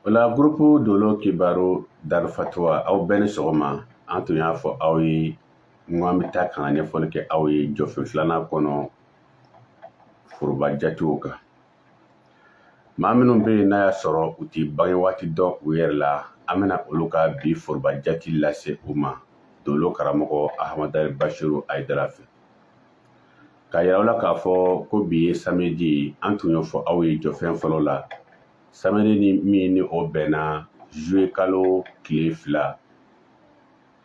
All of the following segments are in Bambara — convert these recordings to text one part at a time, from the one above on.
O la gurupu dolo kibaru darifatuwa aw bɛɛ ni sɔgɔma an tun y'a fɔ aw ye n ko an bɛ taa ka na ɲɛfɔli kɛ aw ye jɔfɛn filanan kɔnɔ foroba jatew kan maa minnu bɛ yen n'a y'a sɔrɔ u tɛ bange waati dɔn u yɛrɛ la an bɛna olu ka bi foroba jate lase u ma dolo karamɔgɔ ahamadari basiru ayidara fɛ k'a yira aw la k'a fɔ ko bi ye samedi an tun y'o fɔ aw ye jɔfɛn fɔlɔ la samedi ni min ni o bɛnna juillet kalo tile fila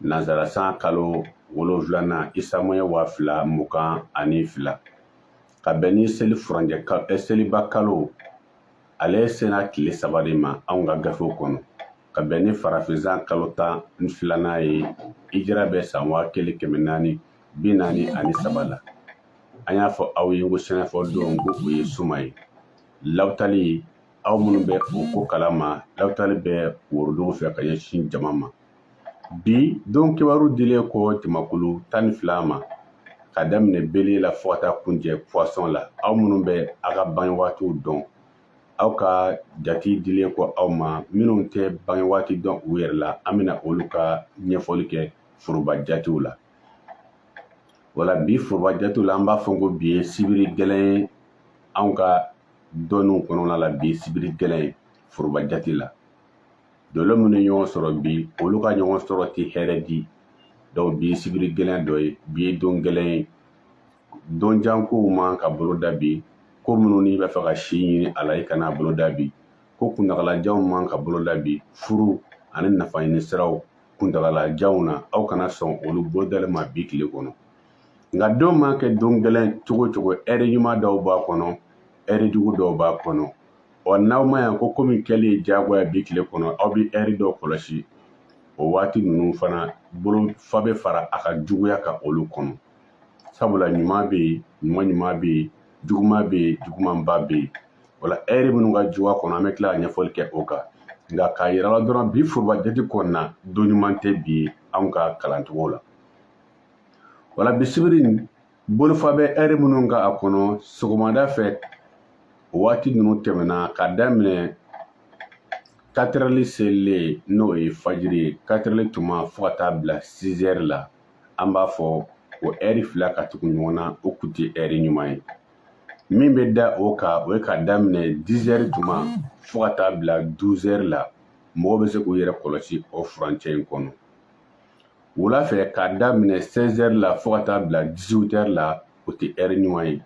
nanzara san kalo wolonfilanan isamoye waa fila mugan ani fila ka bɛn ni seli furancɛ eh, seliba kalo ale sena tile saba de ma anw ka gafew kɔnɔ ka bɛn ni farafin san kalo tan ni filanan ye hijira bɛ san waa kelen kɛmɛ naani bi naani ani saba la an y'a fɔ aw ye ko sɛnɛfɔ don ko o ye suma ye lawutali aw minnu bɛ o ko kalama lawutali bɛ worodugu fɛ ka ɲɛsin jama ma bi don kibaru dilen kɔ jamakulu tan ni fila ma ka daminɛ bele la fo ka taa kuncɛ puwasɔn la aw minnu bɛ aw ka bange waatiw dɔn aw ka jate dilen kɔ aw ma minnu tɛ bange waati dɔn u yɛrɛ la an bɛna olu ka ɲɛfɔli kɛ foroba jatew la wala bi foroba jatew la an b'a fɔ ko bi ye sibiri gɛlɛn anw ka dɔnniw kɔnɔna la bi sibiri gɛlɛn foroba jate la dolo minnu ye ɲɔgɔn sɔrɔ bi olu ka ɲɔgɔn sɔrɔ tɛ hɛrɛ di dɔnku bi ye sibiri gɛlɛn dɔ ye bi ye don gɛlɛn ye don jan kow man ka bolo da bi ko minnu n'i b'a fɛ ka si ɲini a la i kana bolo da bi ko kuntagalajanw man ka bolo da bi furu ani nafa ɲini siraw kuntagalajanw na aw kana sɔn olu bolodalen ma bi tile kɔnɔ nka don ma kɛ don gɛlɛn cogo cogo ɛri ɲuman dɔw b'a kɔnɔ ɛri jugu dɔw b'a kɔnɔ ɔ n'aw ma yan ko ko min kɛli ye diyagoya bi tile kɔnɔ aw bɛ ɛri dɔw kɔlɔsi o waati ninnu fana bolo fa bɛ fara a ka juguya kan olu kɔnɔ sabula ɲuman bɛ yen ɲuman ɲuman bɛ yen juguman bɛ yen jugumanba bɛ yen wala ɛri minnu ka jugu a kɔnɔ an bɛ tila ka ɲɛfɔli kɛ o kan nka k'a yira la dɔrɔn bi foroba jate kɔnɔna don ɲuman tɛ bi anw ka kalancogo la wala bi sibiri bolofa bɛ ɛri minnu kan a kɔnɔ sɔgɔmada fɛ o waati ninnu tɛmɛna ka daminɛ katerɛli selilen n'o ye fajiri ye katerɛli tuma fo ka taa bila sizɛri la an b'a fɔ o ɛri fila ka tugu ɲɔgɔn na o kun tɛ ɛri ɲuman ye min bɛ da o kan o ye ka daminɛ dizɛri tuma fo ka taa bila duzɛri la mɔgɔw bɛ se k'u yɛrɛ kɔlɔsi o furancɛ in kɔnɔ wula fɛ k'a daminɛ sɛzɛri la fo ka taa bila dizutɛri la o tɛ ɛri ɲuman ye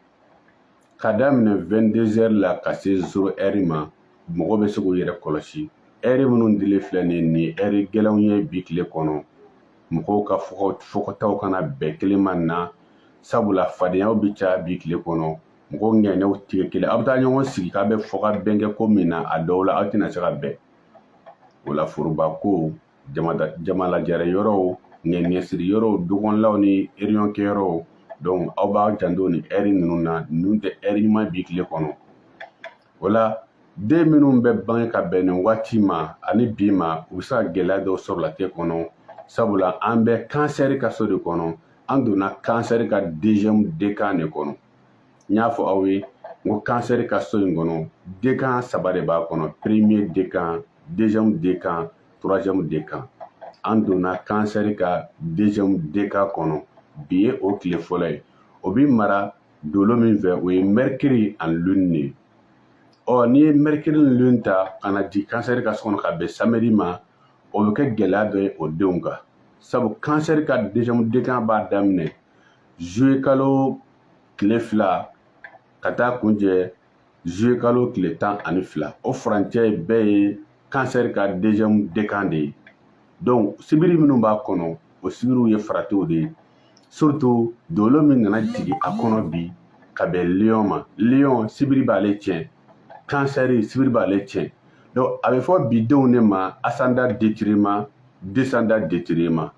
ka daminɛ wɛndezɛri la ka se zero ɛri ma mɔgɔw bɛ se k'u yɛrɛ kɔlɔsi ɛri minnu dilen filɛ nin ye nin ɛri gɛlɛnw ye bi tile kɔnɔ mɔgɔw ka fɔkɔtaw kana bɛn kelen ma na sabula fadenyaw bɛ caya bi tile kɔnɔ mɔgɔw ŋaniyaw tɛ kɛ kelen aw bɛ taa ɲɔgɔn sigi k'aw bɛ fɔkabɛn kɛ ko min na a dɔw la aw tɛna se ka bɛn o la foroba ko jamalajɛrɛ yɔrɔw ŋaniyasiri yɔrɔw dukɔnɔlaw ni réunion kɛyɔrɔw donc aw b'a janto nin ɛri ninnu na ninnu tɛ ɛri ɲuman bi tile kɔnɔ o la den minnu bɛ bange ka bɛn nin waati ma ani bi ma u bɛ se ka gɛlɛya dɔw sɔrɔ latigɛ kɔnɔ sabula an bɛ kansɛri ka so de kɔnɔ an donna kansɛri ka deuxième dekan de kɔnɔ n y'a fɔ aw ye n ko kansɛri ka so in kɔnɔ dekan saba de b'a kɔnɔ premier dekan deuxième dekan troisième dekan an donna kansɛri ka deuxième dekan kɔnɔ bi ye o tile fɔlɔ ye o bi mara dolo min fɛ o ye mercure ani lune de ye ɔ n'i ye mercure ni lune ta ka na jigin kansɛri ka so kɔnɔ ka bɛn samedi ma o bɛ kɛ gɛlɛya dɔ ye o denw kan sabu kansɛri ka deuxième dekan b'a daminɛ juillet kalo tile fila ka taa kuncɛ juillet kalo tile tan ani fila o furancɛ bɛɛ ye kansɛri ka deuxième dekan de ye donc sibiri minnu b'a kɔnɔ o sibiriw ye faratiw de ye surtout dolo min nana jigin a kɔnɔ bi ka bɛn liyɔn ma liyɔn sibiri b'ale tiɲɛ kansɛri sibiri b'ale tiɲɛ donc a bɛ fɔ bidenw de ma asanda detirima desanda detirima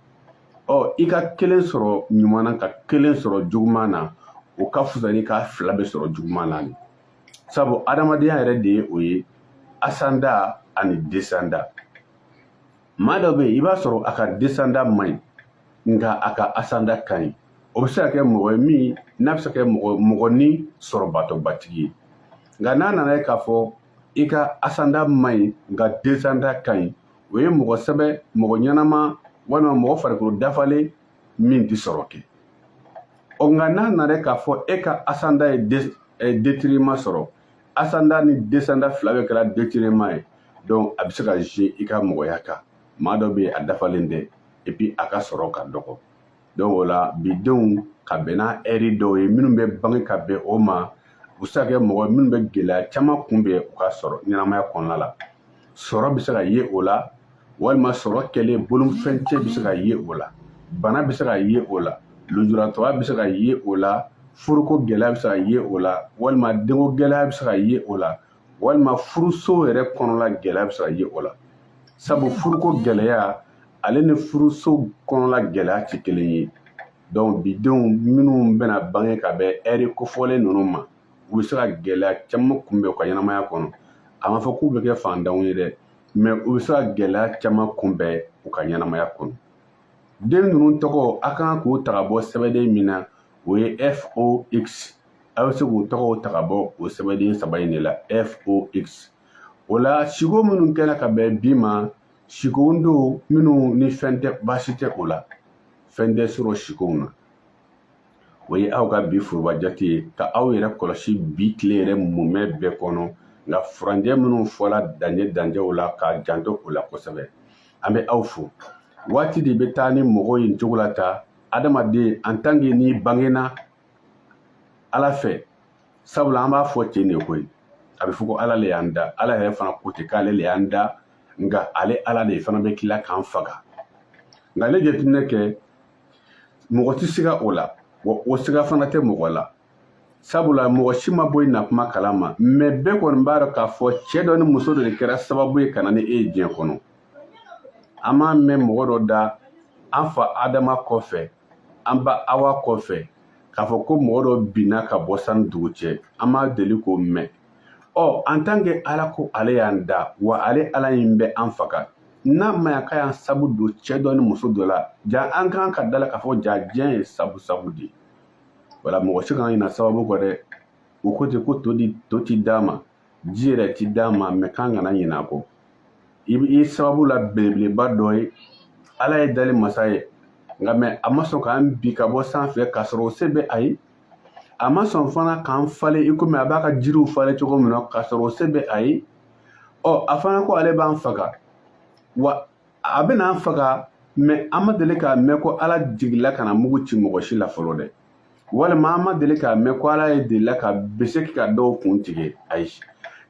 ɔ i ka kelen sɔrɔ ɲuman na ka kelen sɔrɔ juguman na o ka fisa ni k'a fila bɛɛ sɔrɔ juguman na de sabu adamadenya yɛrɛ de ye o ye asanda ani desanda maa dɔ bɛ yen i b'a sɔrɔ a ka desanda man ɲi nka a ka asanda ka ɲi o bɛ se ka kɛ mɔgɔ ye min n'a bɛ se ka kɛ mɔgɔnin sɔrɔba tɔgɔbatigi ye nka n'a nana ye k'a fɔ i ka asanda man ɲi nka desanda ka ɲi o ye mɔgɔ sɛbɛ mɔgɔ ɲɛnama walima mɔgɔ farikolo dafalen min tɛ sɔrɔ kɛ ɔ nka n'a nana k'a fɔ e ka asanda ye detirima sɔrɔ asanda ni desanda fila bɛɛ kɛra detirima ye donc a bɛ se ka jouer i ka mɔgɔya kan maa dɔ bɛ yen a dafalen tɛ epi a ka sɔrɔ ka dɔgɔ donc o la bidenw ka bɛn n'a ɛri dɔw ye minnu bɛ bange ka bɛn o ma u bɛ se ka kɛ mɔgɔ minnu bɛ gɛlɛya caman kunbɛn u ka sɔrɔ ɲɛnamaya kɔnɔna la sɔrɔ bɛ se ka ye o la walima sɔrɔ kɛlen bolofɛn cɛ bɛ se ka ye o la bana bɛ se ka ye o la lujuratɔya bɛ se ka ye o la furuko gɛlɛya bɛ se ka ye o la walima denko gɛlɛya bɛ se ka ye o la walima furuso yɛrɛ kɔnɔna gɛlɛya bɛ se ka ye o la sabu furuko gɛlɛya ale ni furuso kɔnɔla gɛlɛya tɛ kelen ye donc bidenw minnu bɛna bange ka bɛn ɛri kofɔlen ninnu ma u bɛ se ka gɛlɛya caman kunbɛn u ka ɲɛnamaya kɔnɔ a ma fɔ k'u bɛ kɛ fantanw ye dɛ mɛ u bɛ se ka gɛlɛya caman kunbɛn u ka ɲɛnamaya kɔnɔ den ninnu tɔgɔ a ka kan k'u ta ka bɔ sɛbɛden min na o ye fox a bɛ se k'u tɔgɔw ta ka bɔ o sɛbɛden saba in de la fox o la siko minnu kɛra ka bɛn bi ma sikow don minnu ni fɛn tɛ baasi tɛ o la fɛn tɛ sɔrɔ sikow na o ye aw ka bi foroba jate ye ka aw yɛrɛ kɔlɔsi bi tile yɛrɛ mumɛ bɛɛ kɔnɔ nka furancɛ minnu fɔla dancɛ dancɛw la k'a janto o la kosɛbɛ an bɛ aw fo waati de bɛ taa ni mɔgɔ ye nin cogo la ta adamaden en tant que n'i bangena ala fɛ sabula an b'a fɔ ten de koyi a bɛ fɔ ko ala le y'an da ala yɛrɛ fana ko ten k'ale le y'an da nka ale ala de fana bɛ tila k'an faga nka n'i ye jateminɛ kɛ mɔgɔ tɛ siga o la wa o siga fana tɛ mɔgɔ la sabula mɔgɔ si ma bɔ i na kuma kalama mɛ bɛɛ kɔni b'a dɔn k'a fɔ cɛ dɔ ni muso dɔ de kɛra sababu ye ka na ni e ye diɲɛ kɔnɔ an m'a mɛn mɔgɔ dɔ da an fa adama kɔfɛ an ba awa kɔfɛ k'a fɔ ko mɔgɔ dɔ binna ka bɔ san ni dugu cɛ an m'a deli k'o mɛn ɔ en tant que ala ko ale y'an da wa ale ala in bɛ an faga n'a ma ya k'a y'an sabu don cɛ dɔ ni muso dɔ la ja an kan ka da a la k'a fɔ ja diɲɛ ye sabu sabu de wala mɔgɔ si kana ɲina sababu kɔ dɛ o ko ten ko to di to ti d'a ma ji yɛrɛ ti d'a ma mɛ k'an kana ɲinɛ a kɔ i sababu la belebeleba dɔ ye ala ye dali masa ye nka mɛ a ma sɔn k'an bin ka bɔ sanfɛ k'a sɔrɔ o se bɛ a ye a ma sɔn fana k'an falen i komi a b'a ka jiriw falen cogo min na k'a sɔrɔ o se bɛ a ye ɔ a fana ko ale b'an faga wa a bɛna an faga mɛ an ma deli k'a mɛn ko ala jigila ka na mugu ci mɔgɔ si la fɔlɔ dɛ walima an ma deli k'a mɛn ko ala ye delila ka bese ka dɔw kun tigɛ ayi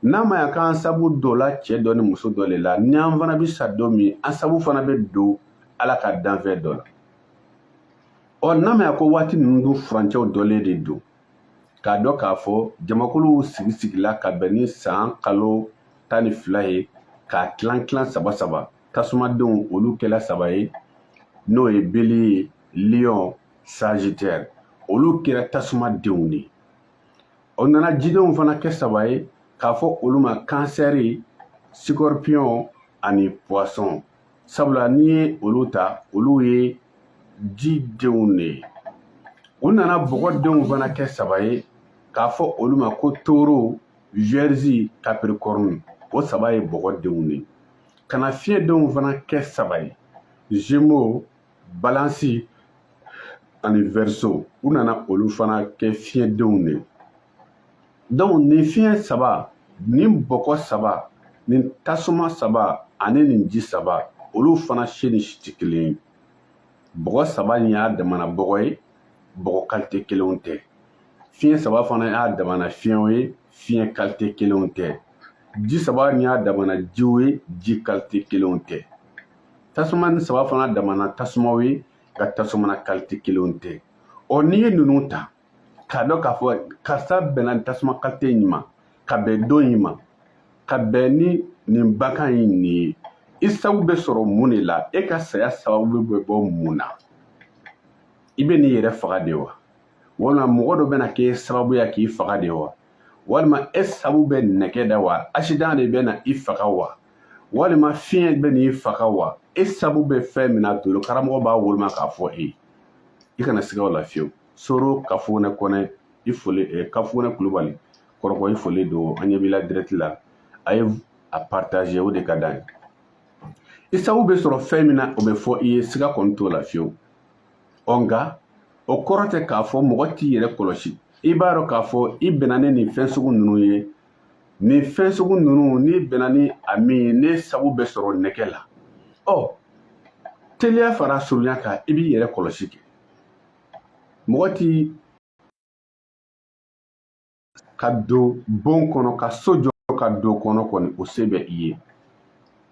n'a ma ya k'an sabu donna cɛ dɔ ni muso dɔ le la ni an fana bɛ sa don min an sabu fana bɛ don ala ka danfɛn dɔ la ɔ n'a ma ya ko waati ninnu dun furancɛw dɔnnen de don k'a dɔn k'a fɔ jamakuluw sigi sigila ka bɛn ni san kalo tan ni fila ye k'a tilan tilan saba saba tasumadenw olu kɛla saba ye n'o ye beliye liyɔn sagitɛri olu kɛra tasumadenw de o nana jidenw fana kɛ saba ye k'a fɔ olu ma kansɛri sikɔripiyɔn ani puwasɔn sabula n'i ye olu ta olu ye ji denw de ye u nana bɔgɔ denw fana kɛ saba ye k'a fɔ olu ma ko toro viyɛrizi kapirikɔrɔni o saba ye bɔgɔ denw de ye ka na fiɲɛ denw fana kɛ saba ye zemo balansi ani vɛriso u nana olu fana kɛ fiɲɛ denw de ye dɔnku nin fiɲɛ saba nin bɔgɔ saba nin tasuma saba ani nin ji saba olu fana si ni si tɛ kelen ye bɔgɔ saba in y'a damana bɔgɔ ye bɔgɔ kalite kelenw tɛ fiɲɛ saba fana y'a damana fiɲɛw ye fiɲɛ kalite kelenw tɛ ji saba in y'a damana jiw ye ji kalite kelenw tɛ tasuma nin saba fana damana tasumaw ye nka tasumana kalite kelenw tɛ ɔ n'i ye ninnu ta k'a dɔn k'a fɔ karisa bɛnna nin tasuma kalite in ma ka bɛn don in ma ka bɛn ni nin bakan in nin ye i sabu bɛ sɔrɔ mun de la e ka saya sababu bɛ bɔ mun na i bɛ n'i yɛrɛ faga de wa walima mɔgɔ dɔ bɛna k'e sababuya k'i faga de wa walima e sabu bɛ nɛgɛ da wa asidan de bɛna i faga wa walima fiɲɛ bɛ n'i faga wa e sabu bɛ fɛn min na dolo karamɔgɔ b'a woloma k'a fɔ e ye i kana siga o la fiyewu soro kafunɛ kɔnɛ i foli eh, kafunɛ kulubali kɔrɔkɔ i foli don an ɲɛ b'i la dirɛti la a ye a partage o de ka d'an ye i sabu bɛ sɔrɔ fɛn min na o bɛ fɔ i ye siga kɔni t'o la fiyewu ɔ nka o kɔrɔ tɛ k'a fɔ mɔgɔ t'i yɛrɛ kɔlɔsi i b'a dɔn k'a fɔ i bɛnna ni nin fɛn sugu ninnu ye nin fɛn sugu ninnu n'i bɛnna ni a min ye ne sabu bɛ sɔrɔ nɛgɛ la ɔ teliya fara surunya kan i b'i yɛrɛ kɔlɔsi kɛ mɔgɔ ti ka don bon kɔnɔ ka so jɔ ka don kɔnɔ kɔni o se bɛ i ye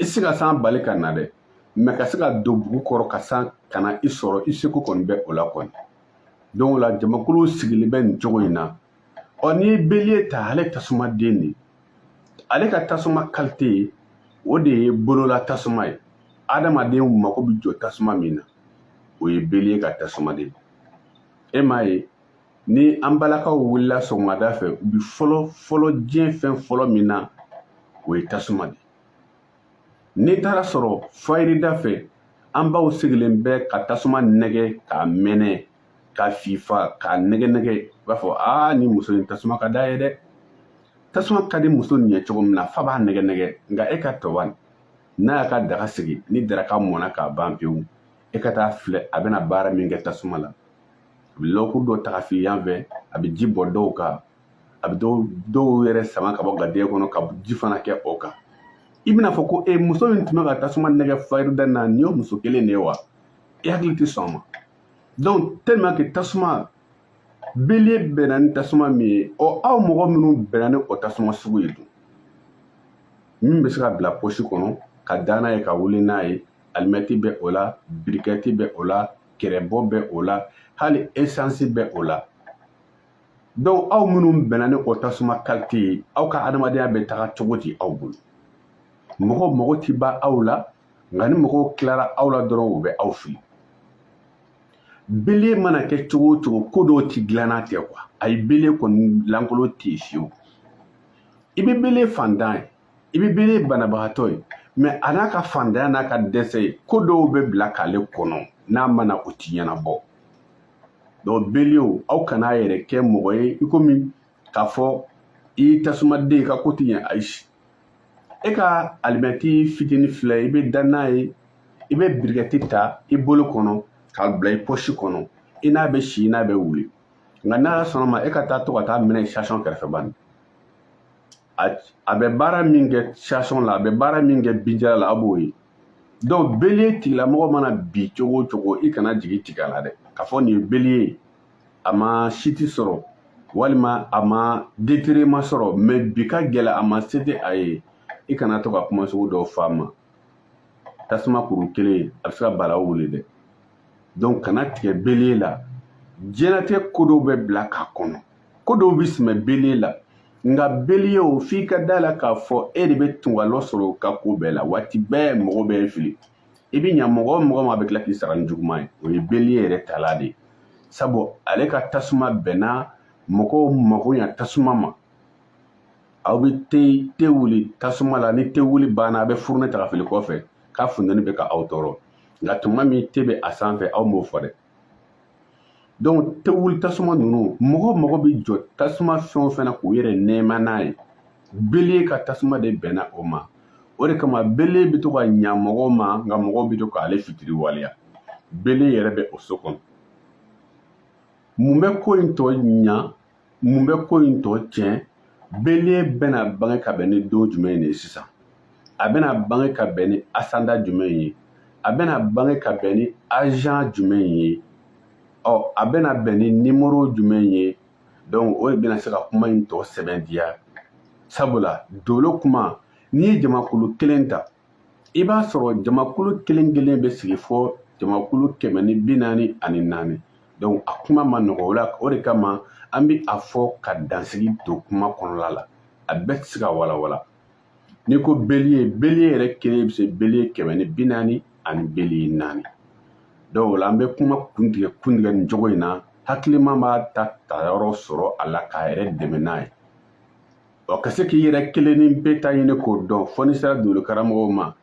i se ka san bali ka na dɛ mɛ ka se ka don bugu kɔrɔ ka san kana i sɔrɔ i seko kɔni bɛ o la kɔni dɔnku o la jamakulu sigilen bɛ nin cogo in na ɔ n'i ye beliye ta ale tasuma den de ale ka tasuma kalite o de ye bolola tasuma ye adamadenw mako bɛ jɔ tasuma min na o ye beliye ka tasuma de e m'a ye ni an balakaw wulila sɔgɔmada fɛ u bi fɔlɔ fɔlɔ diɲɛ fɛn fɔlɔ min na o ye tasuma de n'i taara sɔrɔ fayirida fɛ an baw sigilen bɛ ka tasuma nɛgɛ k'a mɛnɛ k'a fifa k'a nɛgɛ nɛgɛ i b'a fɔ aa ni muso in tasuma ka d'a ye dɛ tasuma ka di muso nin ye cogo min na f'a b'a nɛgɛ nɛgɛ nka e ka tɔba n'a y'a ka daga sigi ni daraka mɔna k'a ban pewu e ka taa filɛ a bɛna baara min kɛ tasuma la a bɛ lɔkuru dɔ ta ka fili yan fɛ a bɛ ji bɔn dɔw kan a bɛ dɔw yɛrɛ sama ka bɔ ga de kɔnɔ ka ji fana kɛ o kan i bɛna fɔ ko e muso min tun bɛ ka tasuma nɛgɛn fajirida na nin ye muso kelen de ye wa i hakili tɛ sɔn o ma donc tellement que tasuma bélier bɛnna ni tasuma min ye ɔ aw mɔgɔ minnu bɛnna ni o tasuma sugu ye dun min bɛ se ka bila pɔsi kɔnɔ ka da n'a ye ka wuli n'a ye alimɛti bɛ o la birikɛti bɛ o la kɛrɛbɔ bɛ o la hali esansi bɛ o la donc aw minnu bɛnna ni o tasuma kalite ye aw ka adamadenya bɛ taga cogo di aw bolo mɔgɔw mago ti ban aw la nka ni mɔgɔw tilara aw la dɔrɔn u bɛ aw fili bélier mana kɛ cogo o cogo ko dɔw ti dilan n'a tɛ quoi ayi bélier kɔni lankolon tɛ yen fewu i bɛ bélier fantan ye i bɛ bélier banabagatɔ ye mais a n'a ka fantanya n'a ka dɛsɛ ye ko dɔw bɛ bila k'ale kɔnɔ n'a ma na o ti ɲɛnabɔ donc béliers aw kana a yɛrɛ kɛ mɔgɔ ye i komi k'a fɔ i ye tasumaden ka ko ti ɲɛ ayi e ka alimɛti fitini filɛ i bɛ da n'a ye i bɛ birikɛti ta i bolo kɔnɔ k'a bila i pɔsi kɔnɔ i n'a bɛ si i n'a bɛ wuli nka n'a sɔnna ma e ka taa to ka taa mɛnɛ station kɛrɛfɛ bani a bɛ baara min kɛ station la a bɛ baara min kɛ binjala la a b'o ye donc bélier tigilamɔgɔ mana bin cogo o cogo i kana jigi tigɛ a la dɛ k'a fɔ nin ye bélier ye a ma siti sɔrɔ walima a ma detere ma sɔrɔ mais bi ka gɛlɛn a ma se tɛ a ye i kana to ka kuma sugu dɔw f'a ma tasuma kuru kelen a bɛ se ka balawu wuli dɛ donc kana tigɛ bélier la diɲɛnatigɛ ko dɔw bɛ bila k'a kɔnɔ ko dɔw bɛ sɛmɛ bélier la nka bélier o f'i ka da la k'a fɔ e de bɛ tungalɔ sɔrɔ o ka ko bɛɛ la waati bɛɛ mɔgɔ b'e fili i bɛ ɲa mɔgɔ o mɔgɔ ma a bɛ tila k'i sara ni juguman ye o ye bélier yɛrɛ tala de ye sabu ale ka tasuma bɛnna mɔgɔw mako ɲa tasuma ma aw bɛ te te wuli tasuma la ni te wuli banna a bɛ furunɛ ta ka fili kɔfɛ k'a funteni bɛ ka aw tɔɔrɔ nka tuma min te bɛ a sanfɛ aw m'o fɔ dɛ donc te wuli tasuma ninnu mɔgɔ mɔgɔ bɛ jɔ tasuma fɛn o fɛn na k'u yɛrɛ nɛɛma n'a ye bélier ka tasuma de bɛnna o ma o de kama bélier bɛ to ka ɲa mɔgɔw ma nka mɔgɔw bɛ to k'ale fitiriwaleya bélier yɛrɛ bɛ o so kɔnɔ mun bɛ ko in tɔ ɲa mun bɛ ko in tɔ tiɲɛ bélier bɛna bange ka bɛn ni don jumɛn de ye sisan a bɛna bange ka bɛn ni ascendant jumɛn ye a bɛna bange ka bɛn ni agent jumɛn ye ɔ a bɛna bɛn ni numéro jumɛn ye donc o de bɛna se ka kuma in tɔ sɛbɛntiya sabula dolo kuma n'i ye jamakulu kelen ta i b'a sɔrɔ jamakulu kelen kelen bɛ sigi fɔ jamakulu kɛmɛ ni bi naani ani naani donc a kuma ma nɔgɔ o la o de kama an bɛ a fɔ ka dansigi don kuma kɔnɔla la a bɛɛ tɛ se ka walawala n'i ko beliye beliye yɛrɛ kelen bɛ se beliye kɛmɛ ni bi naani ani beliye naani donc o la an bɛ kuma kuntigɛ kuntigɛ nin cogo in na hakilima b'a ta tayɔrɔ sɔrɔ a la k'a yɛrɛ dɛmɛ n'a ye ɔ ka se k'i yɛrɛ kelen ni bɛɛ ta ɲini k'o dɔn fɔ n'i sera doolo karamɔgɔw ma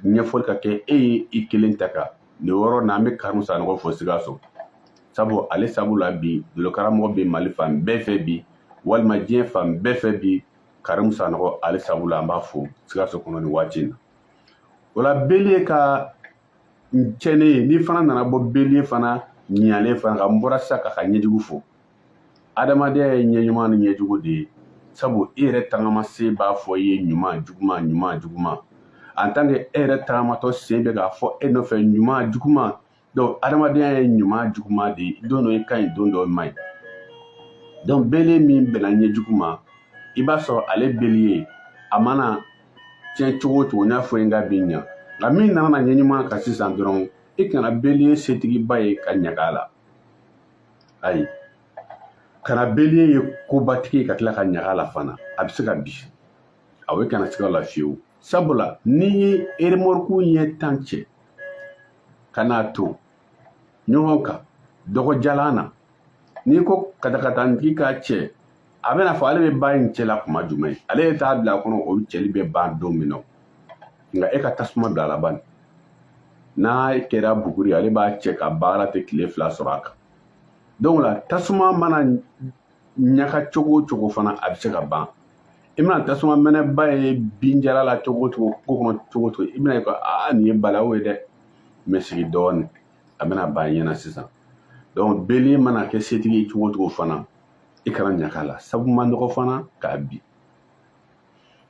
ɲɛfɔli ka kɛ e ye i kelen ta kan nin yɔrɔ na an bɛ karimu sanɔgɔ fo sikaso sabu ale sabu la bi doolo karamɔgɔ bɛ mali fan bɛɛ fɛ bi walima diɲɛ fan bɛɛ fɛ bi karimu sanɔgɔ ale sabu la an b'a fo sikaso kɔnɔ nin waati in na o la beliye ka cɛnnen n'i fana nana bɔ beliye fana ɲalen fana kan n bɔra sisan k'a ka ɲɛjugu fɔ adamadenya ye ɲɛ ɲuman ni ɲɛ jugu de ye sabu e yɛrɛ tagama sen b'a fɔ i ye ɲuman juguman ɲuman juguman en tant que e yɛrɛ tagamatɔ sen bɛ k'a fɔ e nɔfɛ ɲuman juguman donc adamadenya ye ɲuman juguman de ye don dɔ i ka ɲi don dɔ i man ɲi donc beliye min bɛnna ɲɛ jugu ma i b'a sɔrɔ ale beliye a mana tiɲɛ cogo o cogo n y'a fɔ i ye n k'a bɛ ɲa nka min nana na ɲɛ ɲuman kan sisan dɔrɔn i kana beliye setigiba ye ka ɲaga a la ayi kana beliye kobatigi ye ka tila ka ɲaga a la fana a bɛ se ka bin ayi kana siga a la fiyewu sabula n'i ye eremɔriku ɲɛ tan cɛ ka n'a ton ɲɔgɔn kan dɔgɔjalan na n'i ko katakatantigi k'a cɛ a bɛna a fɔ ale bɛ ban nin cɛ la kuma jumɛn ye ale yɛrɛ t'a bila a kɔnɔ o cɛli bɛ ban don min na nka e ka tasuma bila a la bani n'a kɛra buguri ale b'a cɛ ka baara tɛ tile fila sɔrɔ a kan donc la tasuma mana ɲaga cogo o cogo fana a bɛ se ka ban i mana tasuma mɛnɛba ye binjalan na cogo o cogo kungo kɔnɔ cogo o cogo i bɛna a ye ko aa nin ye balawu ye dɛ mais sigi dɔɔnin a bɛna ban i ɲɛ na sisan donc beliye mana kɛ setigi cogo o cogo fana i kana ɲaga a la sabu ma nɔgɔ fana ka bin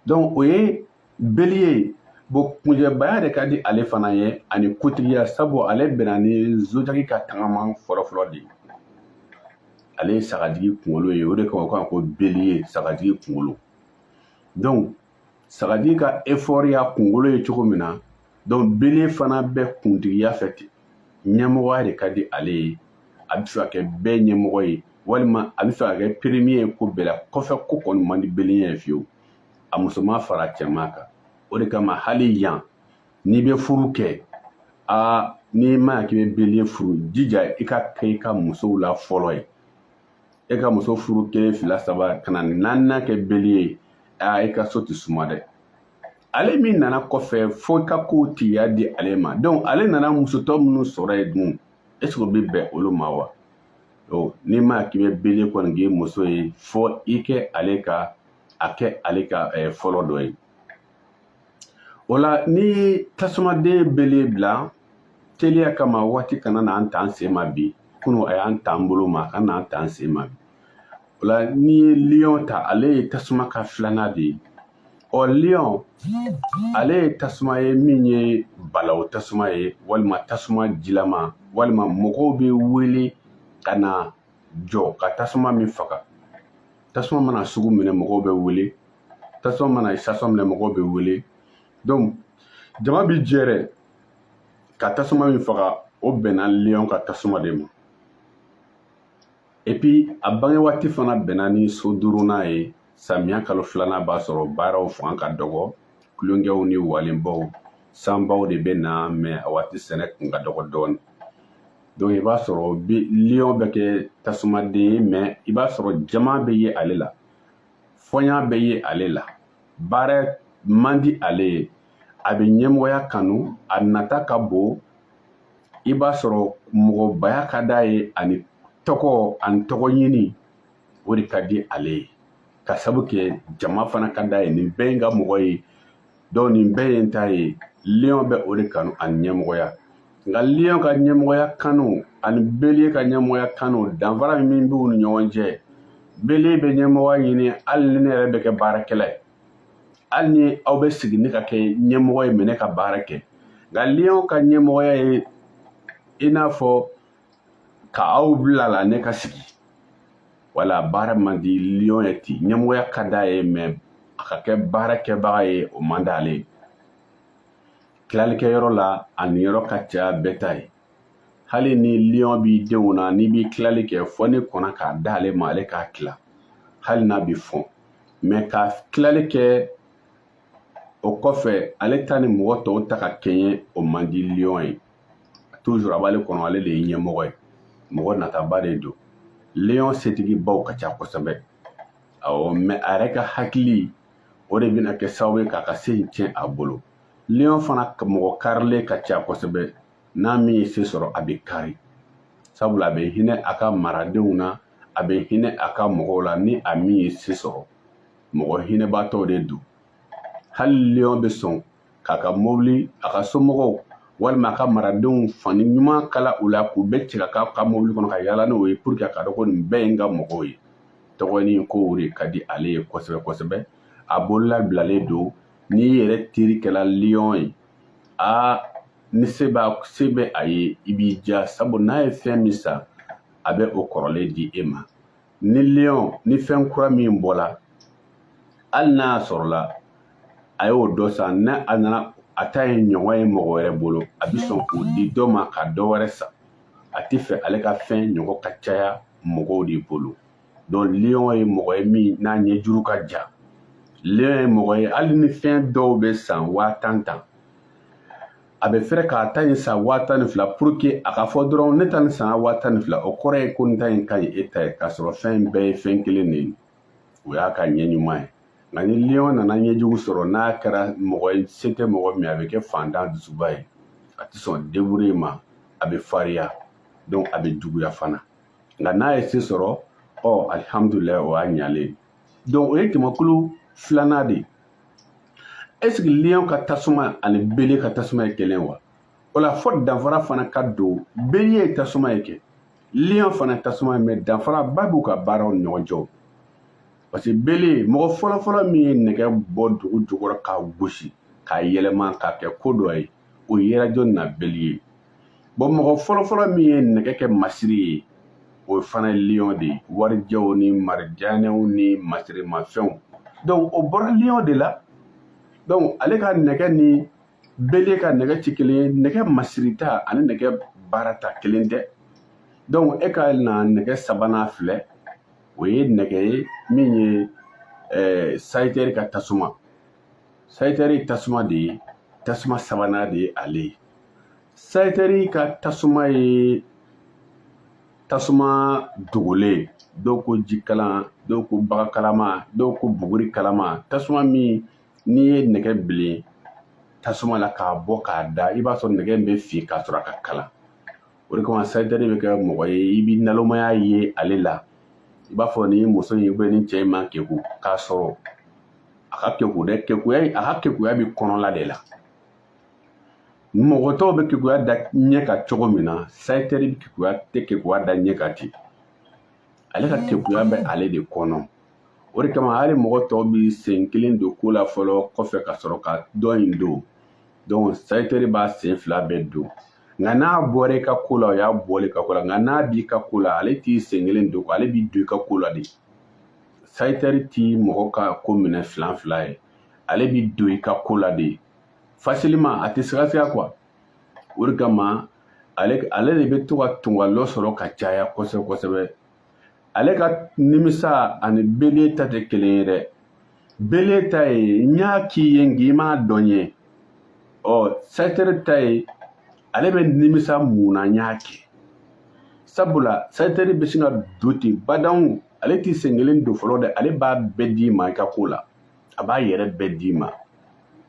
donc o ye beliye bon kuncɛbaya de ka di ale fana ye ani kuntigiya sabu ale bɛnna ni zojaki ka tagama fɔlɔfɔlɔ de ye ale ye sagajigi kunkolo ye o de kama ko ko beliye sagajigi kunkolo donc sagajigi ka effort y'a kunkolo ye cogo min na donc beliye fana bɛ kuntigiya fɛ ten ɲɛmɔgɔya de ka di ale ye a bɛ fɛ ka kɛ bɛɛ ɲɛmɔgɔ ye walima a bɛ fɛ ka kɛ premier ye ko bɛɛ la kɔfɛ ko kɔni man di beliye ye fiyewu a musoman fara cɛman kan o de kama hali yan n'i bɛ furu kɛ aa n'i ma ɲa k'i bɛ beliye furu jija i k'a kɛ i ka musow la fɔlɔ ye e ka muso furu kelen fila saba ka na naaninan kɛ belie ye aa i ka so tɛ suma dɛ ale min nana kɔfɛ fo i ka kow tigiya di ale ma donc ale nana musotɔ minnu sɔrɔ yen dun est ce que o bɛ bɛn olu ma wa donc n'i ma k'i bɛ belie kɔni k'i muso ye fo i kɛ ale ka a kɛ ale ka eh, fɔlɔ dɔ ye o la ni tasumaden belie bila teliya kama waati kana n'an t'an sen ma bi kunu a y'an t'an bolo ma kana n'an t'an sen ma bi o la n'i ye liyɔn ta ale ye tasuma ka filanan de ye ɔ liyɔn ale ye tasuma ye min ye balawu tasuma ye walima tasuma jilama walima mɔgɔw bɛ wele ka na jɔ ka tasuma min faga tasuma mana sugu minɛ mɔgɔw bɛ wele tasuma mana sasɔn minɛ mɔgɔw bɛ wele donc jama bi jɛrɛ ka tasuma min faga o bɛnna liyɔn ka tasuma de ma epi a bange waati fana bɛnna ni so duurunan ye samiya kalo filanan b'a sɔrɔ baaraw fanga ka dɔgɔ tulonkɛw ni walenbaw sanbaw de bɛ na mɛ a waati sɛnɛ kun ka dɔgɔ dɔɔni donc i b'a sɔrɔ liyɔn bɛ kɛ tasumaden ye mɛ i b'a sɔrɔ jama bɛ ye ale la fɔnya bɛ ye ale la baara man di ale ye a bɛ ɲɛmɔgɔya kanu a nata ka bon i b'a sɔrɔ mɔgɔbaya ka d'a ye ani tɔgɔ ani tɔgɔ ɲini o de ka di ale ye k'a sabu kɛ jama fana ka d'a ye nin bɛɛ ye n ka mɔgɔ ye donc nin bɛɛ ye n ta ye liɔn bɛ o de kanu ani ɲɛmɔgɔya nka liɔn ka ɲɛmɔgɔya kanu ani belie ka ɲɛmɔgɔya kanu danfara min b'u ni ɲɔgɔn cɛ belie bɛ ɲɛmɔgɔya ɲini hali ni ne yɛrɛ bɛ kɛ baarakɛla ye hali ni aw bɛ sigi ne ka kɛ ɲɛmɔgɔ ye mɛ ne ka baara kɛ nka liɔn ka ɲɛmɔgɔya ye i n'a fɔ ka aw bila la ne ka sigi wala baara man di liyɔn ye ten ɲɛmɔgɔya ka d'a ye mɛ a ka kɛ baarakɛbaga ye o man d'ale ye tilalikɛyɔrɔ la a niyɔrɔ ka ca bɛɛ ta ye hali ni liyɔn b'i denw na n'i bi tilali kɛ fo n'i kɔnna k'a d'ale ma ale k'a tila hali n'a bɛ fɔn mɛ ka tilali kɛ o kɔfɛ ale ta ni mɔgɔ tɔw ta ka kɛɲɛ o man di liyɔn ye tuzur a b'ale kɔnɔ ale de ye ɲɛmɔgɔ ye mɔgɔ nataba de don liyɔn setigibaw ka ca kosɛbɛ awɔ mɛ a yɛrɛ ka hakili o de bɛna kɛ sababu ye k'a ka se in tiɲɛ a bolo liyɔn fana mɔgɔ karilen ka ca kosɛbɛ n'a min ye se sɔrɔ a bɛ kari sabula a bɛ hinɛ a ka maradenw na a bɛ hinɛ a ka mɔgɔw la ni a min ye se sɔrɔ mɔgɔ hinɛbaatɔw de don hali liyɔn bɛ sɔn k'a ka mobili a ka somɔgɔw walima a ka maradenw fani ɲuman kala u la k'u bɛɛ cɛ ka ka mobili kɔnɔ ka yaala n'u ye pour que a ka dɔn ko nin bɛɛ ye n ka mɔgɔw ye tɔgɔnin ko o de ka di ale ye kosɛbɛ kosɛbɛ a bolo labilalen don n'i yɛrɛ teri kɛla liyɔn ye aa ni se b'a se bɛ a ye i b'i diya sabu n'a ye fɛn min san a bɛ o kɔrɔlen di e ma ni liyɔn ni fɛn kura min bɔla hali n'a sɔrɔla a y'o dɔ san n'a a nana a ta ye ɲɔgɔn ye mɔgɔ wɛrɛ bolo a bɛ sɔn k'o di dɔ ma ka dɔ wɛrɛ san a tɛ fɛ ale ka fɛn ɲɔgɔn ka caya mɔgɔw de bolo donc liyɔn ye mɔgɔ ye min n'a ɲɛjuru ka jan liyɔn ye mɔgɔ ye hali ni fɛn dɔw bɛ san waa tan tan a bɛ fɛrɛ k'a ta in san waa tan ni fila pour que a ka fɔ dɔrɔn ne ta nin sanna waa tan ni fila o kɔrɔ ye ko n ta in ka ɲi e ta ye k'a sɔrɔ fɛn in bɛɛ ye fɛn kelen de ye o y'a ka ɲɛ ɲuman ye nka ni liyɔn nana ɲɛjugu sɔrɔ n'a kɛra mɔgɔ ye se tɛ mɔgɔ min a bɛ kɛ fantan dusuba ye a tɛ sɔn débrouiller ma a bɛ fariya donc a bɛ juguya fana nka n'a ye se sɔrɔ ɔ alihamudulilayi o y'a ɲalen donc o ye jamakulu filanan de ye est-ce que liyɔn ka tasuma ani beliye ka tasuma ye kelen wa o la fɔ danfara fana ka dɔn beliye tasuma ye kɛ liyɔn fana tasuma ye mais danfaraba b'u ka baaraw ni ɲɔgɔn cɛ parce que beliye mɔgɔ fɔlɔfɔlɔ min ye nɛgɛ bɔ dugu jukɔrɔ k'a gosi k'a yɛlɛma k'a kɛ ko dɔ ye o yera jɔn na beliye bon mɔgɔ fɔlɔfɔlɔ min ye nɛgɛ kɛ masiri ye o fana ye liyɔn de ye warijɛw ni marijanɛw ni masirimafɛnw donc o bɔra liyɔn de la donc ale ka nɛgɛ ni beliye ka nɛgɛ tɛ kelen ye nɛgɛ masirita ani nɛgɛ baarata kelen tɛ donc e ka na nɛgɛ sabanan filɛ o ye nɛgɛ ye min ye eh, sayitɛri ka tasuma sayitɛri tasuma de ye tasuma sabanan de ye ale ye sayitɛri ka tasuma ye tasuma dogolen dɔw ko jikalan dɔw ko baga kalama dɔw ko buguri kalama tasuma min n'i ye nɛgɛ bilen tasuma la k'a bɔ k'a da i b'a sɔrɔ nɛgɛ in bɛ fin k'a sɔrɔ a ka kalan o de kama sayitɛri bɛ kɛ mɔgɔ ye i bɛ nalomaya ye ale la i b'a fɔ ni muso in ni cɛ in man keku k'a sɔrɔ a ka keku dɛ a ka kekuya bɛ kɔnɔla de la mɔgɔ tɔw bɛ kekuya da ɲɛ kan cogo min na sayitɛri tɛ kekuya da ɲɛ kan ten ale ka kekuya bɛ ale de kɔnɔ o de kama hali mɔgɔ tɔw bɛ sen kelen don ko la fɔlɔ kɔfɛ ka sɔrɔ ka dɔ in don donc sayitɛri b'a sen fila bɛɛ don nka n'a bɔra i ka ko la o y'a bɔlen i ka ko la nka n'a b'i ka ko la ale t'i sen kelen don ale b'i don i ka ko la de sayitɛri tɛ mɔgɔ ka ko minɛ fila fila ye ale bɛ don i ka ko la de facilement a tɛ sigasiga quoi o de kama ale ale de bɛ to ka tungalɔ sɔrɔ ka caya kosɛbɛ kosɛbɛ ale ka nimisa ani beliye ta tɛ kelen ye dɛ beliye ta ye n y'a k'i ye nka i m'a dɔn ye ɔ sayitɛri ta ye ale bɛ nimisa mun na n y'a kɛ sabula sayitɛri bɛ sin ka don ten badanw ale t'i sen kelen don fɔlɔ dɛ ale b'a bɛɛ d'i ma i ka ko la a b'a yɛrɛ bɛɛ d'i ma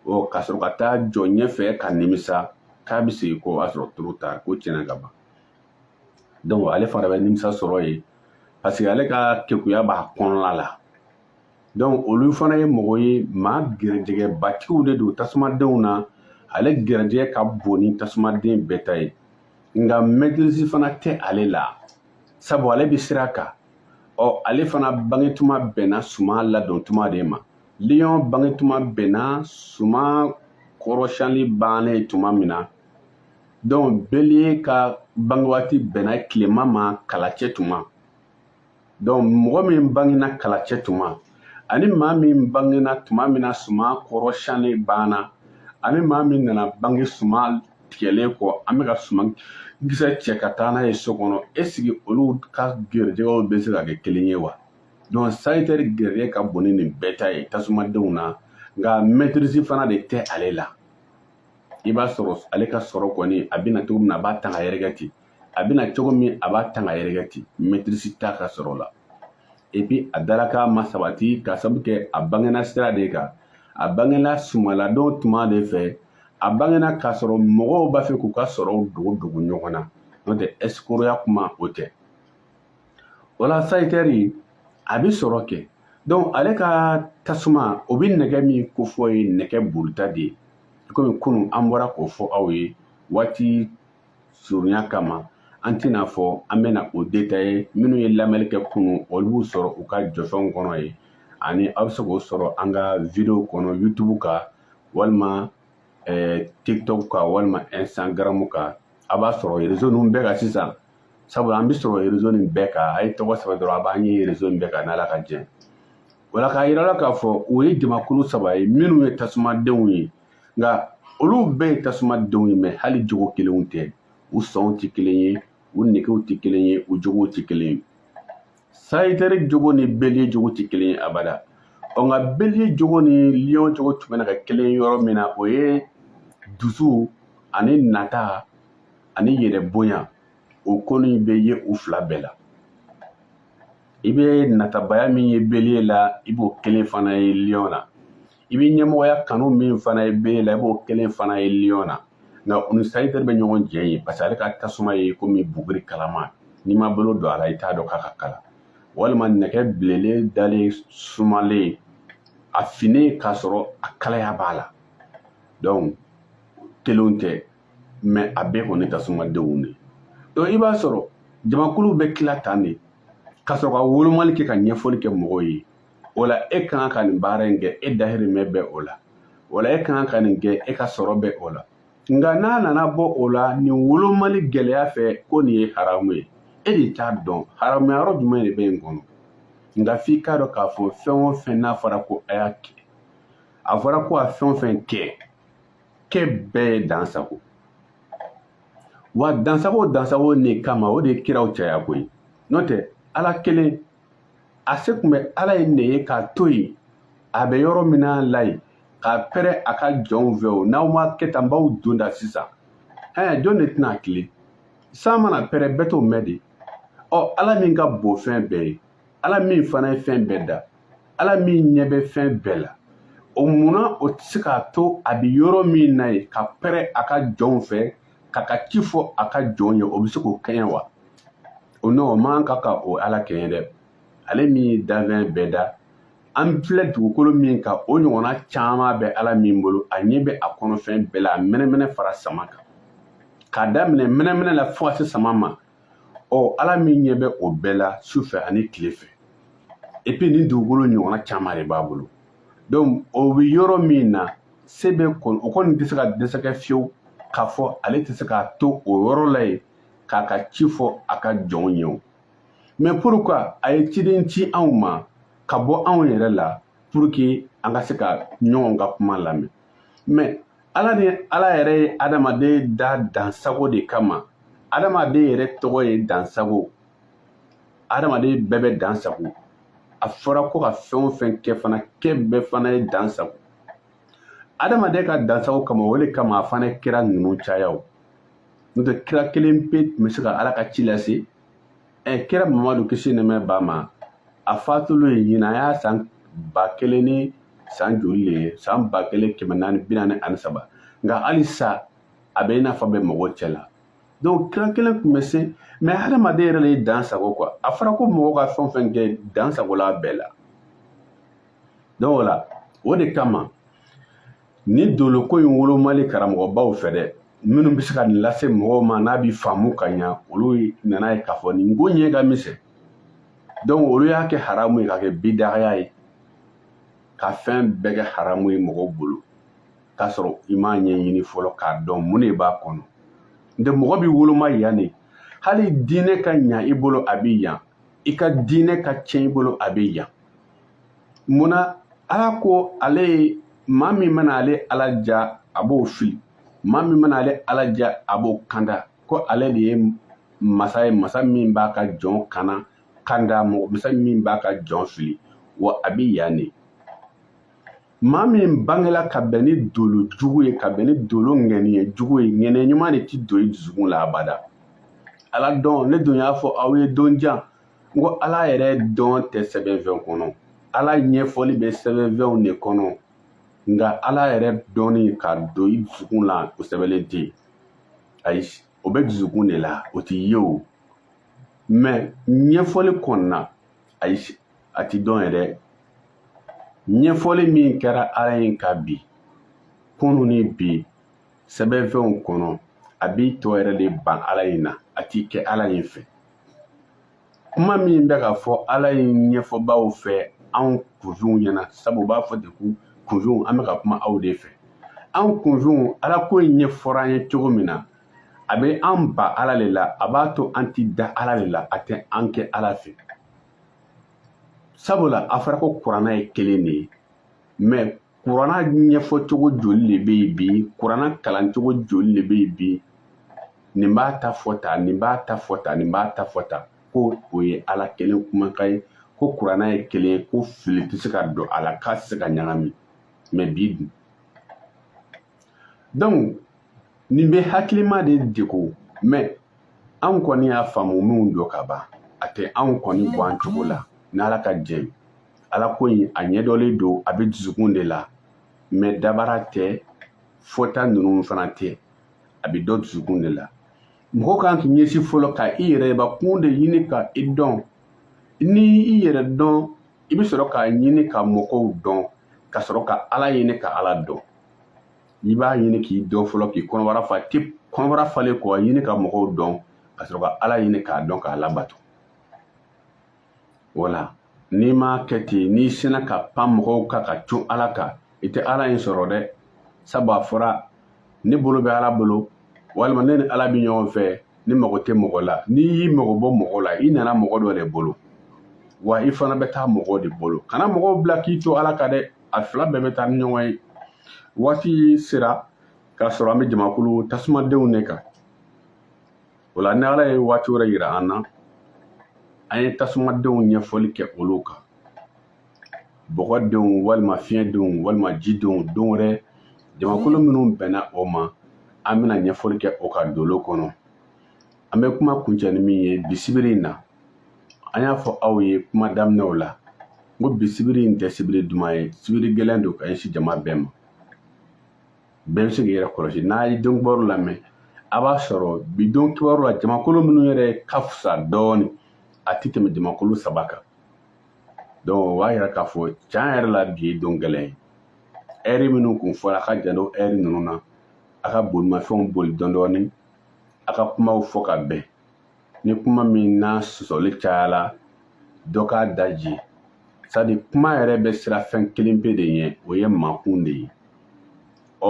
ɔ ka sɔrɔ ka taa jɔ ɲɛfɛ ka nimisa k'a bɛ segin kɔ o y'a sɔrɔ trop tard ko tiɲɛna ka ban donc ale fana bɛ nimisa sɔrɔ yen parce que ale ka kekuya b'a kɔnɔna la donc olu fana ye mɔgɔ ye maa gɛrɛjɛgɛbatigiw de don tasumadenw na ale gɛrɛjɛgɛ ka bon ni tasumaden bɛɛ ta ye nka maîtrise fana tɛ ale la sabu ale bɛ sira kan ɔ ale fana bangetuma bɛnna suma ladon tuma de ma liyɔn bangetuma bɛnna suma kɔrɔsiyɛnli bannen tuma min na donc beliye ka bangewaati bɛnna tilema ma kalacɛ tuma donc mɔgɔ min bangena kalacɛ tuma ani maa min bangena tuma min na suma kɔrɔsiyɛnli banna ani maa min nana bange suma tigɛlen kɔ an bɛ ka suman kisɛ cɛ ka taa n'a ye so kɔnɔ est-ce que olu ka gɛrɛjɛgɛw bɛ se ka kɛ kelen ye wa donc sayitɛri gɛrɛjɛgɛ ka bon ni nin bɛɛ ta ye tasumadenw na nka maîtrise fana de tɛ ale la i b'a sɔrɔ ale ka sɔrɔ kɔni a bɛ na cogo min na a b'a tan ka yɛrɛkɛ ten a bɛ na cogo min a b'a tan ka yɛrɛkɛ ten maîtrise t'a ka sɔrɔ la et puis a dalakan ma sabati ka sabu kɛ a bangena sira de kan a bangena sumaladon tuma de fɛ a bangena k'a sɔrɔ mɔgɔw b'a fɛ k'u ka sɔrɔw dogo dogo ɲɔgɔn na n'o tɛ ɛsikoroya kuma o tɛ o la sayitɛri a bɛ sɔrɔ kɛ donc ale ka tasuma o bɛ nɛgɛ min kofɔ ye nɛgɛ brut de ye komi kunun an bɔra k'o fɔ aw ye waati surunya kama an tɛna fɔ an bɛna o détailler minnu ye lamɛnni kɛ kunun olu b'u sɔrɔ u ka jɔfɛnw kɔnɔ ye ani aw bɛ se k'o sɔrɔ an ka video kɔnɔ youtube kan walima eh, tiktok kan walima instagram kan a b'a sɔrɔ rezo ninnu bɛɛ kan sisan sabula an bɛ sɔrɔ rezo nin bɛɛ kan a ye tɔgɔ sɛbɛn dɔrɔn a b'an ye rezo nin bɛɛ kan n'ala ka jɛ wala k'a yira la k'a fɔ o ye jamakulu saba ye minnu ye tasumadenw ye nka olu bɛɛ ye tasumadenw ye mais hali jogo kelenw tɛ u sɔnw tɛ kelen ye u negew tɛ kelen ye u jogow tɛ kelen ye sayitɛri jogo ni beliye jogo tɛ kelen ye abada ɔ nka beliye jogo ni liyɔn jogo tun bɛna kɛ kelen yɔrɔ min na o ye dusu ani nata ani yɛrɛ bonya o kɔni bɛ yen u fila bɛɛ la i bɛ natabaya min ye bélier la i b'o kelen fana ye lion na i bɛ ɲɛmɔgɔya kanu min fana ye bélier la i b'o kelen fana ye lion na nka u ni sagittaire bɛ ɲɔgɔn jɛ ye parce que ale ka tasuma ye komi buguri kalama n'i ma bolo don a la i t'a dɔn k'a ka kalan walima nɛgɛ bilelen dalen sumalen a finnen k'a sɔrɔ a kalaya b'a la donc kelenw tɛ mais a bɛɛ kɔni tasumadenw de donc i b'a sɔrɔ jamakulu bɛ tila tan de ka sɔrɔ ka wolomali kɛ ka ɲɛfɔli kɛ mɔgɔw ye wala e ka kan ka nin baara in kɛ e dahirimɛ bɛ o la wala e ka kan ka nin kɛ e ka sɔrɔ bɛ o la nka n'a nana bɔ o la nin wolomali gɛlɛya fɛ ko nin ye haramu ye e de t'a dɔn haramuya yɔrɔ jumɛn de bɛ yen kɔnɔ nka f'i k'a dɔn k'a fɔ fɛn o fɛn n'a fɔra ko a y'a kɛ a fɔra ko a fɛn o fɛn kɛ kɛ bɛɛ ye dansago wa dansago dansago nin kama o de ye kiraw caya koyi n'o tɛ ala kelen a se tun bɛ ala yɛrɛ ye k'a to yen a bɛ yɔrɔ min na la yen ka pɛrɛ a ka jɔnw fɛ o n'aw ma kɛ tan n b'aw don da sisan ɛɛ jɔn de tɛna tilen san mana pɛrɛ bɛɛ t'o mɛn de ɔ ala min ka bon fɛn bɛɛ ye ala min fana ye fɛn bɛɛ da ala min ɲɛ bɛ fɛn bɛɛ la o munna o tɛ se k'a to a bɛ yɔrɔ min na yen ka pɛrɛ a ka jɔnw fɛ k'a ka ci fɔ a ka jɔnw ye o bɛ se k'o kɛɲɛ wa o non o man kan ka o ala kɛɲɛ dɛ ale min ye danfɛn bɛɛ da an filɛ dugukolo min kan o ɲɔgɔnna caman bɛ ala min bolo a ɲɛ bɛ a kɔnɔfɛn bɛɛ la a mɛnɛmɛnɛ fara sama kan k'a daminɛ mɛnɛmɛnɛ la fo ka se sama ma ɔ ala min ɲɛ bɛ o bɛɛ la su fɛ ani tile fɛ et puis nin dugukolo ɲɔgɔnna caman de b'a bolo donc o bɛ yɔrɔ min na se bɛ kɔni o kɔni tɛ se ka dɛsɛ kɛ fiyewu k'a fɔ ale tɛ se k'a to o yɔrɔ la yen k'a ka ci fɔ a ka jɔnw ye o mais pourquoi a ye ciden ci anw ma ka bɔ anw yɛrɛ la pour que an ka se ka ɲɔgɔn ka kuma lamɛn mais ala ni ala yɛrɛ ye adamaden da dansago de kama adamaden yɛrɛ tɔgɔ ye dansago adamaden bɛɛ bɛ dansago a fɔra ko ka fɛn o fɛn kɛ fana kɛ bɛɛ fana ye dansago adamaden ka dansago kama o de kama a fana kira ninnu caya o n'o tɛ kira kelen pe tun bɛ se ka ala ka ci lase ɛ kira mamadu kisi ni nɛɛma b'a ma a fatulen ye ɲinan a y'a san ba kelen ni san joli le ye san ba kelen kɛmɛ naani bi naani ani saba nka halisa a bɛ i n'a fɔ bɛ mɔgɔw cɛ la donc kira kelen tun bɛ se mais hadamaden yɛrɛ de ye dansago quoi a fɔra ko mɔgɔ ka fɛn o fɛn kɛ dansago la bɛɛ la donc o la o de kama nin doloko in wolomali karamɔgɔbaw fɛ dɛ minnu bɛ se ka nin lase mɔgɔw ma n'a bɛ faamu ka ɲa olu nana ye k'a fɔ nin ko ɲɛ ka misɛn donc olu y'a kɛ haramu ye k'a kɛ bidagaya ye ka fɛn bɛɛ kɛ haramu ye mɔgɔw bolo k'a sɔrɔ i m'a ɲɛɲini fɔlɔ k'a dɔn mun de b'a kɔnɔ nka mɔgɔ bɛ woloma yan de hali diinɛ ka ɲa i bolo a bɛ yan i ka diinɛ ka tiɲɛ i bolo a bɛ yan munna ala ko ale ye maa min mana ale ala diya a b'o fili maa min mana ale ala diya a b'o kanda ko ale de ye masa ye masa min b'a ka jɔn kana kanda masa min b'a ka jɔn fili wa a bɛ yan de maa min bangela ka bɛn ni dolo jugu ye ka bɛn ni dolo ŋaniya jugu ye ŋaniya ɲuman de ti don i dusukun la abada ala dɔn ne dun y'a fɔ aw ye don jan n ko ala yɛrɛ dɔn tɛ sɛbɛnfɛn kɔnɔ ala ɲɛfɔli bɛ sɛbɛnfɛnw de kɔnɔ nka ala yɛrɛ dɔnni ka don i dusukun la o sɛbɛnlen tɛ yen ayi o bɛ dusukun de la o tɛ ye o mɛ ɲɛfɔli kɔnɔna ayi a tɛ dɔn yɛrɛ ɲɛfɔli min kɛra ala in kabi kunu ni bi sɛbɛnfɛnw kɔnɔ a b'i tɔ yɛrɛ de ban ala in na a t'i kɛ ala in fɛ kuma min bɛ ka fɔ ala in ɲɛfɔbaw fɛ anw kunfinw ɲɛna sabu u b'a fɔ de ko kunfinw an bɛ ka kuma aw de fɛ anw kunfinw ala ko in ɲɛfɔra an ye cogo min na a bɛ an ban ala de la a b'a to an ti da ala de la a tɛ an kɛ ala fɛ sabula a fɔra ko kuranna ye kelen de ye mɛ kuranna ɲɛfɔcogo joli de bɛ yen bi kuranna kalancogo joli de bɛ yen bi nin b'a ta fɔ tan nin b'a ta fɔ tan nin b'a ta fɔ tan ko o ye ala kelen kumakan ye ko kuranna ye kelen ye ko fili tɛ se ka don a la k'a tɛ se ka ɲagami mɛ bi dun donc nin bɛ hakilima de degun mɛ anw kɔni y'a faamu minnu dɔn ka ban a tɛ anw kɔni bɔ an cogo la n'ala ka jɛ ye ala ko in a ɲɛdɔnnen don a bɛ dusukun de la mɛ dabara tɛ fɔta ninnu fana tɛ a bɛ dɔn dusukun de la mɔgɔ kan k'i ɲɛsin fɔlɔ ka i yɛrɛbakun de ɲini ka i dɔn ni i yɛrɛ dɔn i bɛ sɔrɔ k'a ɲini ka mɔgɔw dɔn ka sɔrɔ ka ala ɲini ka ala dɔn i b'a ɲini k'i dɔn fɔlɔ k'i kɔnɔbara fa de kɔnɔbara falen kɔ ɲini ka mɔgɔw dɔn ka sɔrɔ ka ala ɲini k'a dɔn k'a labato wala n'i m'a kɛ ten n'i sinna ka pan mɔgɔw kan ka cun ala kan i tɛ ala in sɔrɔ dɛ sabu a fɔra ne bolo bɛ ala bolo walima ne ni ala bɛ ɲɔgɔn fɛ ne mago tɛ mɔgɔ la n'i y'i mago bɔ mɔgɔ la i nana mɔgɔ dɔ de bolo wa i fana bɛ taa mɔgɔ de bolo kana mɔgɔw bila k'i to ala kan dɛ a fila bɛɛ bɛ taa ni ɲɔgɔn ye waati sera k'a sɔrɔ an bɛ jamakulu tasumadenw de kan o la ni ala ye waati wɛrɛ yira an na an ye tasumadenw ɲɛfɔli kɛ olu kan bɔgɔdenw walima fiɲɛdenw walima jidenw don wɛrɛ jamakulu minnu bɛnna o ma an bɛna ɲɛfɔli kɛ o ka dolo kɔnɔ an bɛ kuma kuncɛ ni min ye bi sibiri in na an y'a fɔ aw ye kuma daminɛw la n ko bi sibiri in tɛ sibiri duman ye sibiri gɛlɛn don ka ɲɛsin jama bɛɛ ma bɛɛ bɛ se k'i yɛrɛ kɔlɔsi n'a ye don kibaru lamɛn a b'a sɔrɔ bi don kibaru la jamakulu minnu yɛrɛ ka fisa dɔɔnin a tɛ tɛmɛ jamakulu saba kan donc o b'a yira k'a fɔ tiɲɛ yɛrɛ la bi ye don gɛlɛn ye ɛri minnu kun fɔra a ka janto ɛri ninnu na a ka bolimafɛnw boli dɔɔnin dɔɔnin a ka kumaw fɔ ka bɛn ni kuma min na sɔsɔli cayala dɔ k'a daje sadi kuma yɛrɛ bɛ siran fɛn kelen pe de ɲɛ o ye makun de ye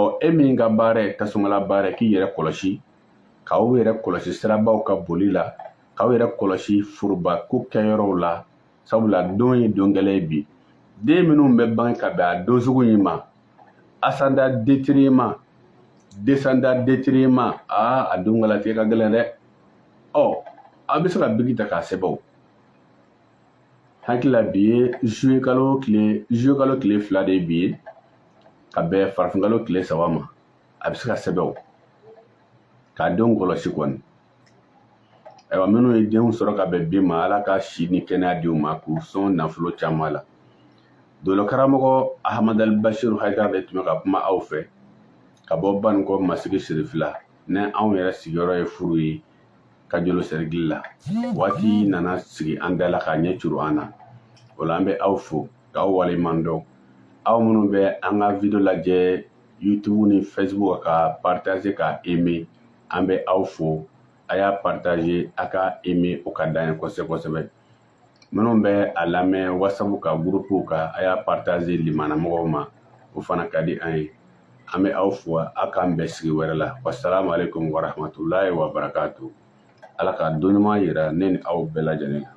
ɔ e min ka baara ye tasumala baara ye k'i yɛrɛ kɔlɔsi k'aw yɛrɛ kɔlɔsi sirabaw kan boli la k'aw yɛrɛ kɔlɔsi forobako kɛyɔrɔw la sabula don ye don gɛlɛn ye bi den minnu bɛ bange ka bɛn a don sugu in ma ascendant détriment descendant détriment aa a don ka latigɛ ka gɛlɛn dɛ ɔ aw bɛ se ka biki ta k'a sɛbɛn o hakili la bi ye zuye kalo tile zuye kalo tile fila de ye bi ye ka bɛn farafinkalo tile saba ma a bɛ se k'a sɛbɛn o k'a denw kɔlɔsi kɔni ayiwa minnu ye denw sɔrɔ ka bɛn bi ma ala ka si ni kɛnɛya di u ma k'u sɔn nafolo caman la dolokaramɔgɔ ahamadali basiru hayidara de tun bɛ ka kuma aw fɛ ka bɔ banikɔ masigi sirifila ni anw yɛrɛ sigiyɔrɔ ye furu ye kajolo sɛrikili la waati nana sigi an da la k'a ɲɛ curu an na o la an bɛ aw fo k'aw waleɲuman dɔn aw minnu bɛ an ka video lajɛ youtube ni facebook ka partager ka aimer an bɛ aw fo a y'a partager a ka aimer o ka d'an ye kosɛbɛ kosɛbɛ minnu bɛ a lamɛn wasabu ka gurupuw kan a y'a partager limana mɔgɔw ma o fana ka di an ye an bɛ aw fo a k'an bɛn sigi wɛrɛ la wasalamu aleykum warahmatulahi wabarakatu ala ka don ɲuman yira ne ni aw bɛɛ lajɛlen na